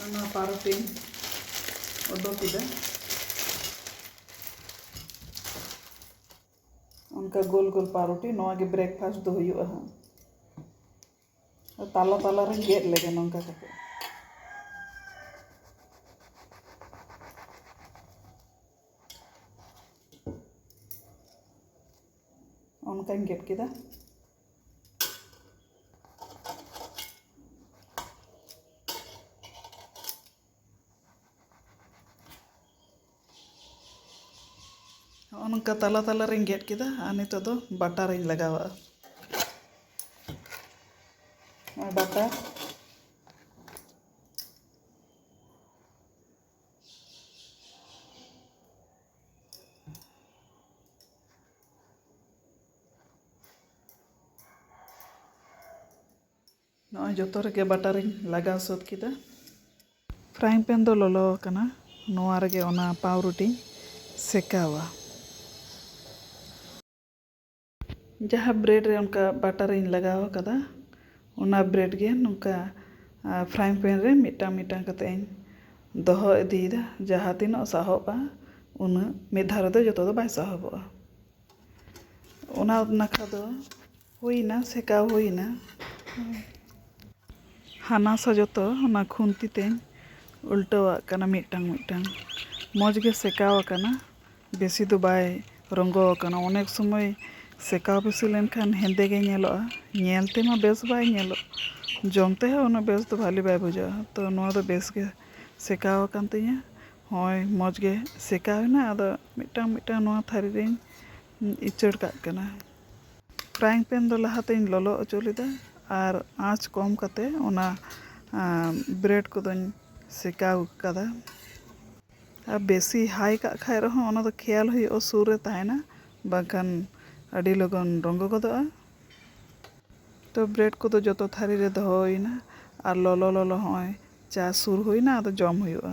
ᱚᱱᱟ ᱯᱟᱨᱚᱴᱤᱧ ᱚᱰᱚᱠ ᱠᱮᱫᱟ ᱚᱱᱠᱟ ᱜᱳᱞ ᱜᱳᱞ ᱯᱟᱨᱚᱴᱤ ᱱᱚᱣᱟ ᱜᱮ ᱵᱨᱮᱠᱯᱷᱟᱥᱴ ᱫᱚ ᱦᱩᱭᱩᱜᱼᱟ ᱦᱟᱸᱜ ᱛᱟᱞᱟ ᱛᱟᱞᱟ ᱨᱮ ᱜᱮᱫ ᱞᱮᱜᱮ ᱱᱚᱝᱠᱟ ᱠᱟᱛᱮ ᱚᱱᱠᱟᱧ ᱜᱮᱫ ᱠᱮᱫᱟ ᱱᱚᱜᱼᱚ ᱱᱚᱝᱠᱟ ᱛᱟᱞᱟ ᱛᱟᱞᱟ ᱨᱤᱧ ᱜᱮᱫ ᱠᱮᱫᱟ ᱟᱨ ᱱᱤᱛᱚᱜ ᱫᱚ ᱵᱟᱴᱟ ᱨᱤᱧ ᱞᱟᱜᱟᱣᱟᱜᱼᱟ ᱱᱚᱜᱼᱚᱭ ᱵᱟᱴᱟ ᱱᱚᱜᱼᱚᱭ ᱡᱚᱛᱚ ᱨᱮᱜᱮ ᱵᱟᱴᱟᱨᱤᱧ ᱞᱟᱜᱟᱣ ᱥᱟᱹᱛ ᱠᱮᱫᱟ ᱯᱷᱨᱟᱭᱤᱝ ᱯᱮᱱ ᱫᱚ ᱞᱚᱞᱚ ᱟᱠᱟᱱᱟ ᱱᱚᱣᱟ ᱨᱮᱜᱮ ᱚᱱᱟ ᱯᱟᱣᱨᱩᱴᱤᱧ ᱥᱮᱠᱟᱣᱟ ᱡᱟᱦᱟᱸ ᱵᱨᱮᱰ ᱨᱮ ᱚᱱᱠᱟ ᱵᱟᱴᱟᱨᱤᱧ ᱞᱟᱜᱟᱣ ᱟᱠᱟᱫᱟ ᱚᱱᱟ ᱵᱨᱮᱰ ᱜᱮ ᱱᱚᱝᱠᱟ ᱯᱷᱨᱟᱭᱤᱝ ᱯᱮᱱ ᱨᱮ ᱢᱤᱫᱴᱟᱝ ᱢᱤᱫᱴᱟᱝ ᱠᱟᱛᱮ ᱤᱧ ᱫᱚᱦᱚ ᱤᱫᱤᱭᱮᱫᱟ ᱡᱟᱦᱟᱸ ᱛᱤᱱᱟᱹᱜ ᱥᱟᱦᱚᱵᱼᱟ ᱩᱱᱟᱹᱜ ᱢᱤᱫ ᱫᱷᱟᱣ ᱨᱮᱫᱚ ᱡᱚᱛᱚ ᱫᱚ ᱵᱟᱭ ᱥᱟᱦᱚᱵᱚᱜᱼᱟ ᱚᱱᱟ ᱱᱟᱠᱷᱟ ᱫᱚ ᱦᱩᱭᱱᱟ ᱥᱮᱠᱟᱣ ᱦᱩᱭᱱᱟ ᱦᱟᱱᱟ ᱥᱟ ᱡᱚᱛᱚ ᱚᱱᱟ ᱠᱷᱩᱱᱛᱤ ᱛᱮᱧ ᱩᱞᱴᱟᱹᱣᱟᱜ ᱠᱟᱱᱟ ᱢᱤᱫᱴᱟᱝ ᱢᱤᱫᱴᱟᱝ ᱢᱚᱡᱽ ᱜᱮ ᱥᱮᱠᱟᱣ ᱟᱠᱟᱱᱟ ᱵᱮᱥᱤ ᱫᱚ ᱵᱟᱭ ᱨᱚᱸᱜᱚ ᱟᱠᱟᱱᱟ ᱚᱱᱮᱠ ᱥᱚᱢᱚᱭ ᱥᱮᱠᱟᱣ ᱵᱮᱥᱤ ᱞᱮᱱᱠᱷᱟᱱ ᱦᱮᱸᱫᱮ ᱜᱮ ᱧᱮᱞᱚᱜᱼᱟ ᱧᱮᱞ ᱛᱮᱢᱟ ᱵᱮᱥ ᱵᱟᱭ ᱧᱮᱞᱚᱜ ᱡᱚᱢ ᱛᱮᱦᱚᱸ ᱩᱱᱟᱹᱜ ᱵᱮᱥ ᱫᱚ ᱵᱷᱟᱞᱮ ᱵᱟᱭ ᱵᱩᱡᱷᱟᱹᱜᱼᱟ ᱛᱚ ᱱᱚᱣᱟ ᱫᱚ ᱵᱮᱥ ᱜᱮ ᱥᱮᱠᱟᱣ ᱟᱠᱟᱱ ᱛᱤᱧᱟᱹ ᱦᱚᱸᱜᱼᱚᱭ ᱢᱚᱡᱽ ᱜᱮ ᱥᱮᱠᱟᱣ ᱮᱱᱟ ᱟᱫᱚ ᱢᱤᱫᱴᱟᱝ ᱢᱤᱫᱴᱟᱝ ᱱᱚᱣᱟ ᱛᱷᱟᱹᱨᱤ ᱨᱤᱧ ᱩᱪᱟᱹᱲ ᱠᱟᱜ ᱠᱟᱱᱟ ᱯᱷᱨᱟᱭᱤᱝ ᱯᱮᱱ ᱫᱚ ᱞᱟᱦᱟ ᱛᱮᱧ ᱞᱚᱞᱚ ᱚᱪᱚ ᱞᱮᱫᱟ ᱟᱨ ᱟᱸᱪ ᱠᱚᱢ ᱠᱟᱛᱮ ᱚᱱᱟ ᱵᱨᱮᱰ ᱠᱚᱫᱚᱧ ᱥᱮᱠᱟᱣ ᱠᱟᱫᱟ ᱟᱨ ᱵᱮᱥᱤ ᱦᱟᱭ ᱠᱟᱜ ᱠᱷᱟᱡ ᱨᱮᱦᱚᱸ ᱚᱱᱟ ᱫᱚ ᱠᱷᱮᱭᱟᱞ ᱦᱩᱭᱩᱜᱼᱟ ᱥᱩᱨ ᱨᱮ ᱛᱟᱦᱮᱱᱟ ᱵᱟᱝᱠᱷᱟᱱ ᱟᱹᱰᱤ ᱞᱚᱜᱚᱱ ᱨᱚᱸᱜᱚ ᱜᱚᱫᱚᱜᱼᱟ ᱛᱚ ᱵᱨᱮᱰ ᱠᱚᱫᱚ ᱡᱚᱛᱚ ᱛᱷᱟᱹᱨᱤ ᱨᱮ ᱫᱚᱦᱚ ᱦᱩᱭᱱᱟ ᱟᱨ ᱞᱚᱞᱚ ᱞᱚᱞᱚ ᱦᱚᱸᱜᱼᱚᱭ ᱪᱟ ᱥᱩᱨ ᱦᱩᱭᱱᱟ ᱟᱫᱚ ᱡᱚᱢ ᱦᱩᱭᱩᱜᱼᱟ